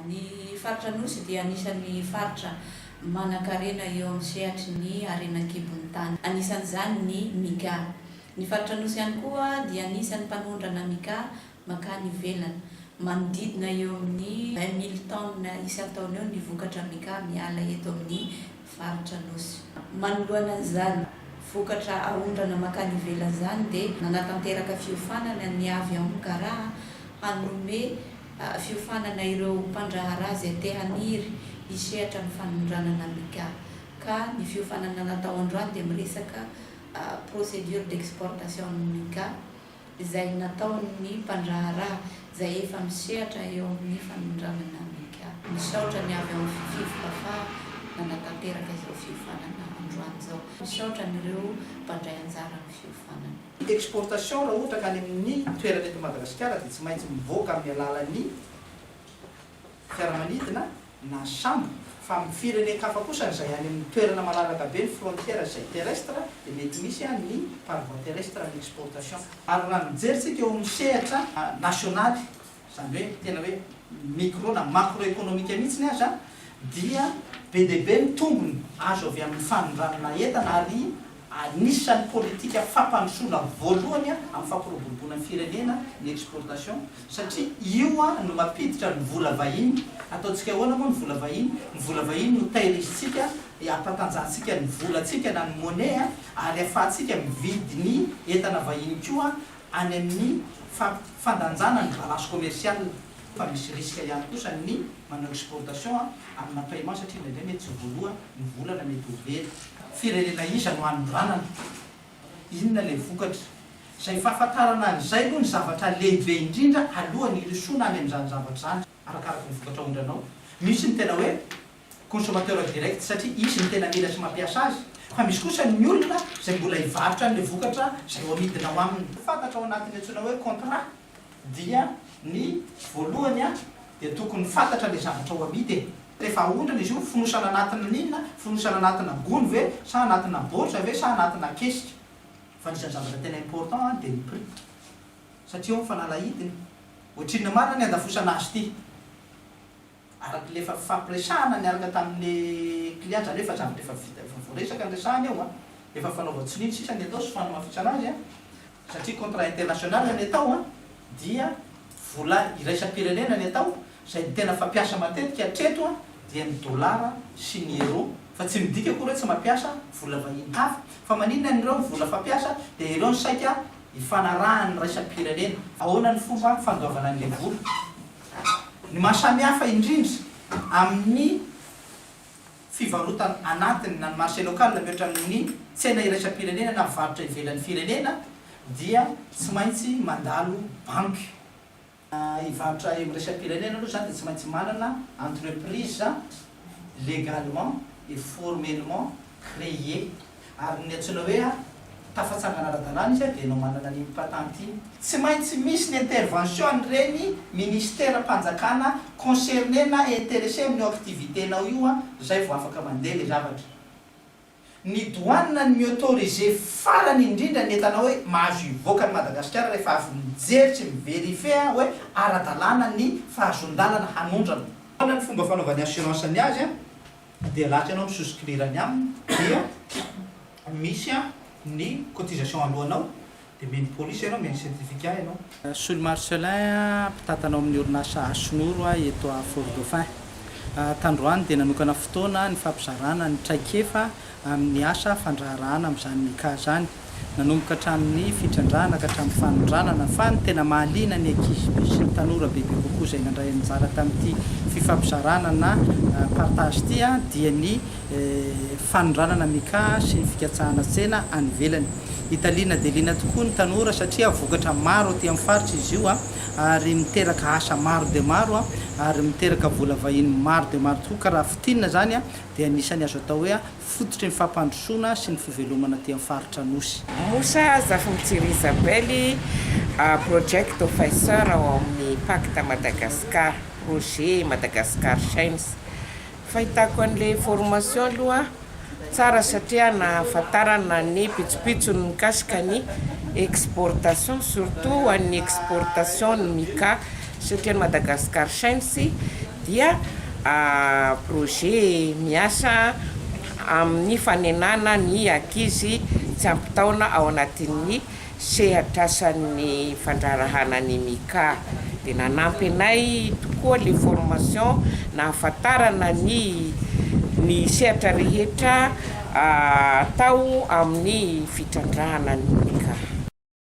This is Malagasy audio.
Ny faritra Anosy dia anisan'ny faritra manankarena eo amin'ny sehatry ny harena an-kibon'ny tany, anisan'izany ny Mica. Ny faritra Anosy ihany koa dia anisan'ny mpanondrana Mica mankany ivelany. Manodidina eo amin'ny vingt mille tonnes isan-taona eo ny vokatra Mica miala eto amin'ny. faritra Anosy. Manoloana izany vokatra aondrana mankany ivelany izany dia nanatanteraka fiofanana ny avy ao Mgaraha hanome fiofanana ireo mpandraharaha izay te haniry hisehatra amin'ny fanondranana Mica. Ka ny fiofanana natao androany dia miresaka procédure d'exportation ny Mica. izay nataon'ny mpandraharaha izay efa misehatra eo amin'ny fanondranana ny ka. Misaotra ny avy ao amin'ny fikivoka fa nanatanteraka izao fiofanana androany izao. Misaotra an'ireo mpandray anjara amin'ny fiofanana. Ny exportation raha ohatra ka any amin'ny toerana eto Madagasikara dia tsy maintsy mivoaka amin'ny alalan'ny. fiaramanidina na sambo fa amin'ny firenen-kafa kosa izay any amin'ny toerana malalaka be ny frontières izay terrestre dia mety misy ny par voie terrestre ny exportation. Ary raha mijery tsika eo amin'ny sehatra nasionaly izany hoe tena hoe micro na macro ekonomika mihitsiny aza dia be dia be ny tombony azo avy amin'ny fanondranana entana ary Anisan'ny politika fampandrosoana voalohany amin'ny fampiroboroboana ny firenena ny exportation satria io no mampiditra ny vola vahiny, ataontsika ahoana moa ny vola vahiny? Ny vola vahiny no tairizintsika hampatanjahantsika ny volantsika na ny monnaie ary ahafahantsika mividy ny entana vahiny koa any amin'ny fandanjana ny balance commerciale fa misy risque ihany kosa ny manao exportation amina paiement satria indraindray mety tsy voaloa Ny volana mety ho hely. Firenena iza no anondranana? Inona ilay vokatra? Izay fahafantarana an'izay aloha ny zavatra lehibe indrindra alohan'ny hirosoana any amin'izany zavatra izany, arakaraka ny vokatra aondranao. Misy ny tena hoe consommateur direct satria izy no tena mila sy mampiasa azy, fa misy kosa ny olona izay mbola hivarotra an'ilay vokatra izay ho amidinao aminy. Fantatra ao anatin'ny antsoina hoe contrat Dia ny voalohany a, dia tokony fantatra le zavatra ho amidy e. Rehefa aondrana izy io, fonosana anatina n'inona? Fonosana anatina gony ve? Sa anatina baoritra ve? Sa anatina kesika? Fa anisan'ny zavatra tena important a, dia ny prix. Satria ao ny fanalahidiny. Ohatrinona marina ny handafosana azy ity? Araka le efa nifampiresahana niaraka tamin'le client, zany hoe efa zavatra efa vita, efa voaresaka ny resahana eo a. Efa fanaovan-tsonia ny sisa ny atao sy fanamafisana azy a. satria contrat international ny atao dia vola iraisam-pirenena ny atao, izay ny tena fampiasa matetika hatreto dia ny dolara sy ny euro, fa tsy midika akory hoe tsy mampiasa vola vahiny hafa, fa maninona ny ireo ny vola fampiasa dia ireo no saika ifanarahan'ny iraisam-pirenena, ahoana ny fomba fandoavana an'ilay vola, ny maha samy hafa indrindra amin'ny. fivarotana anatiny na ny marché local mihoatra amin' ny tsena iraisam-pirenena na varotra ivelan'ny firenena dia tsy maintsy mandalo banky. Hivarotra eo iraisam-pirenena aloha izany dia tsy maintsy manana entreprise légalement et formellement créée. Ary ny antsoina hoe a tafatsangana ara-dalàna izy dia ianao manana an'iny patente iny. Tsy maintsy misy ny intervention an'ireny ministera mpanjakana concerner na interesser amin'io activité-nao io izay vao afaka mandeha ilay zavatra. Ny douane no mi-autoriser farany indrindra ny entana hoe mahazo hivoaka an'i Madagasikara rehefa avy mijery sy mi-verifier hoe ara-dalàna ny fahazoan-dalana hanondrana. Ahoana ny fomba fanaovan'ny assurance ny azy? dia raha tsy ianao mi souscrire any aminy dia misy ny cotisation aloanao dia omeny police ianao, omeny certificat ianao. Soly Marcelin, mpitantana ao amin'ny orinasa Asonoro eto à Fort Dauphin. Tandroany dia nanokana fotoana nifampizarana ny traikefa amin'ny asa fandraharahana amin'izany cas izany. nanomboka hatramin'ny fitrandrahana ka hatramin'ny fanondranana fa ny tena mahaliana ny ankizibe sy ny tanora bebe kokoa izay nandray anjara tamin'ity fifampizarana na partage ity dia ny fanondranana Mica sy ny fikatsahana tsena any ivelany. Hita liana dia liana tokoa ny tanora satria vokatra maro aty amin'ny faritra izy io ary miteraka asa maro dia maro ary miteraka vola vahiny maro dia maro tokoa ka raha fintinina izany dia anisany azo atao hoe fototry ny fampandrosoana sy ny fivelomana aty amin'ny faritra Anosy. Mosa Zafimijirezabelly, Project Officer ao amin'ny Pacte Madagascar, Projet Madagascar Shines. Fahitako an'ilay formation aloha tsara satria nahafantarana ny pitsopitsony mikasika ny exportation, surtout ho an'ny exportation ny Mica Satria ny Madagascar Shines dia projet miasa amin'ny fanenana ny ankizy tsy ampy taona ao anatin'ny sehatr'asan'ny fandraharahana ny Mica. Dia nanampy anay tokoa ilay formation nahafantarana ny ny sehatra rehetra atao amin'ny fitrandrahana ny Mica.